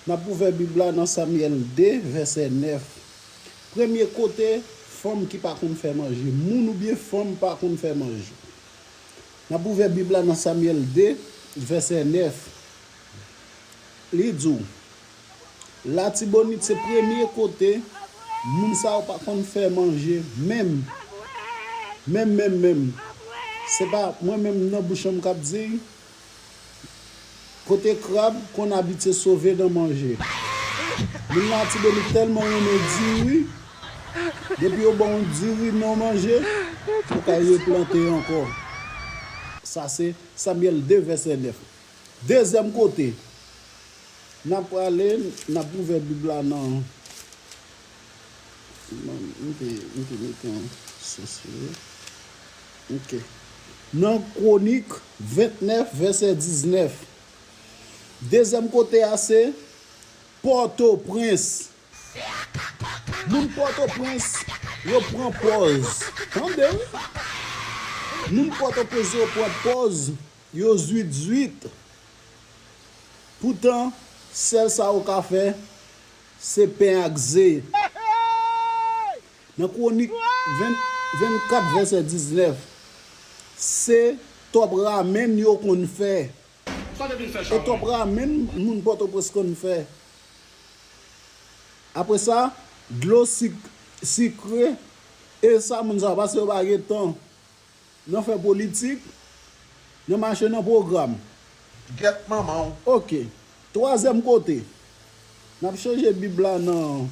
N ap ouvè Bib la nan Samyèl 2, vèsè 9. Premye kote fanm ki pa konn fè manje, moun oubyen fanm pa konn fè manje. N ap ouvè Bib la nan Samyèl 2, vèsè 9. Li di w, Latibonit se premye kote moun sa yo pa konn fè manje menm. Menm menm menm. Se pa mwen menm nan bouch an m k ap di. Kote krab konn abitye sove nan manje. Moun Latibonit tèlman renmen diri, depi yo ba w yon diri nan manje, ou ka replante ankò. Sa se Samuel Devesenef. Dezyèm kote n ap prale, n ap ouvè Bib la nan. Nan Kwonik 29, vèsè 19, dezyèm kote a se Pòtoprens. Moun Pòtoprens yo pran pòz. Tande wi! Moun Pòtoprens yo pran pòz yo zuit zuit. Poutan, sèl sa yo ka fè, Se pen ak ze. Nan kwonik 24 vèsè 19, se tòp ramenn yo konn fè. E tòp ramenn moun Pòtoprens konn fè. Apre sa, dlo sik, sikre, e sa moun sa yo, paske yo pa gen tan. Nan fè politik, nan mache nan pwogram. Gèt manman w! Ok. Twazyèm kote, n ap chanje Bib la nan.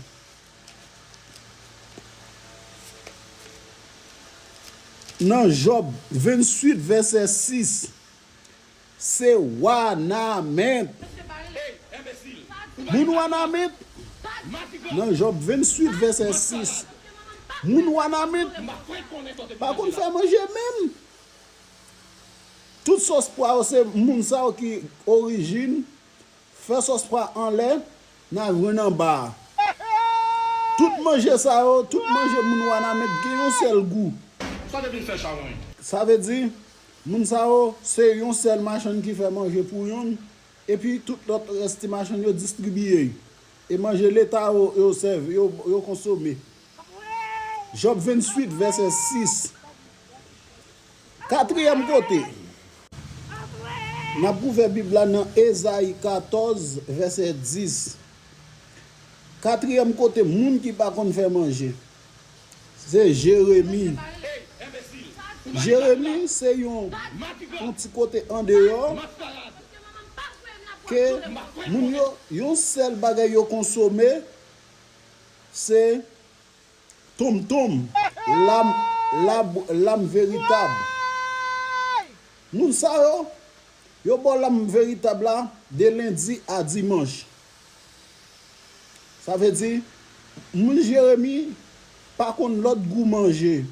Nan Jòb 28 vèsè 6. Se wanament! Moun wanament, nan Jòb 28 vèsè 6, moun wanament pa konn fè manje menm. Tout sòs pwa yo se moun sa yo ki orijin Fè sòs pa anlè nan jwenn anba a. Tout manje sa yo, tout manje moun Wanament gen yon sèl gou. Sa te vin fè chawony. Sa vle di, moun sa yo, se yon sèl machann ki fè manje pou yon, epi tout lòt rès ti machann yo distribiye. E manje leta yo, yo sèvi, yo konsome. Jòb venn-swit vèsè sis. Katriyèm kote, n ap ouvè Bib la nan Ezayi katòz, vèsè dis. Katriyèm kote moun ki pa konn fè manje, se Jeremi. Jeremi se yon ti kote andeyò ke moun yo, yon sèl bagay yo konsome, Se Tom Tom, lam, lab, lam veritab. Moun sa yo, yo bo lam veritab la de lendi a dimanch. Sa vle di, moun Jeremi pa konn lòt gou manje.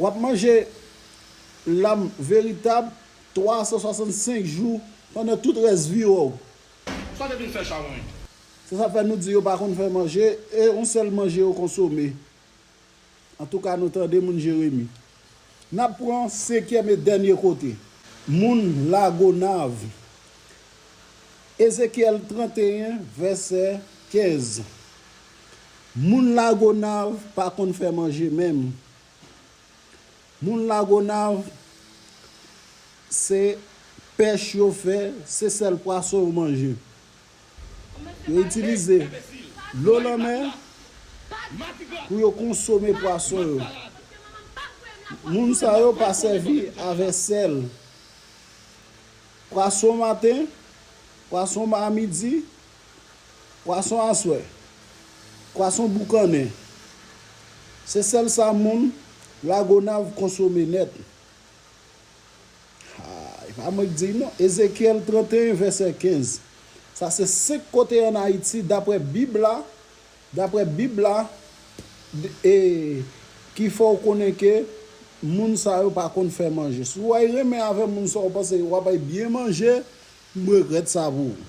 W ap manje lam veritab 365 jou pandan tout rès vi w. Sa te vin fè chawony. Se sa k fè nou di yo pa konn fè manje, e yon sèl manje yo konsome. Antouka nou tande moun Jeremi. N ap pran senkyèm e dènye kote, moun Lagonav. Ezekyèl 31 vèsè 15 Moun Lagonav pa konn fè manje menm, Moun lagonav se pèch yo fè se sèl pwason yo manje yo itilize dlo lanmè pou yo konsome pwason yo moun sa yo pa sèvi avè sèl pwason maten pwason ma midi Pwason aswè. Pwason boukannen. Se sèl sa moun Lagonav konsome nèt. Ha! E pa mwen k di l non. Ezekyèl 31 vèsè 15. Sa se 5 kote an Ayiti daprè Bib la, daprè Bib la, e ki fè w konnen ke moun sa yo pa konn fè manje. Si w ay renmen avè moun sa w panse w ap ay byen manje, m regrèt sa pou ou.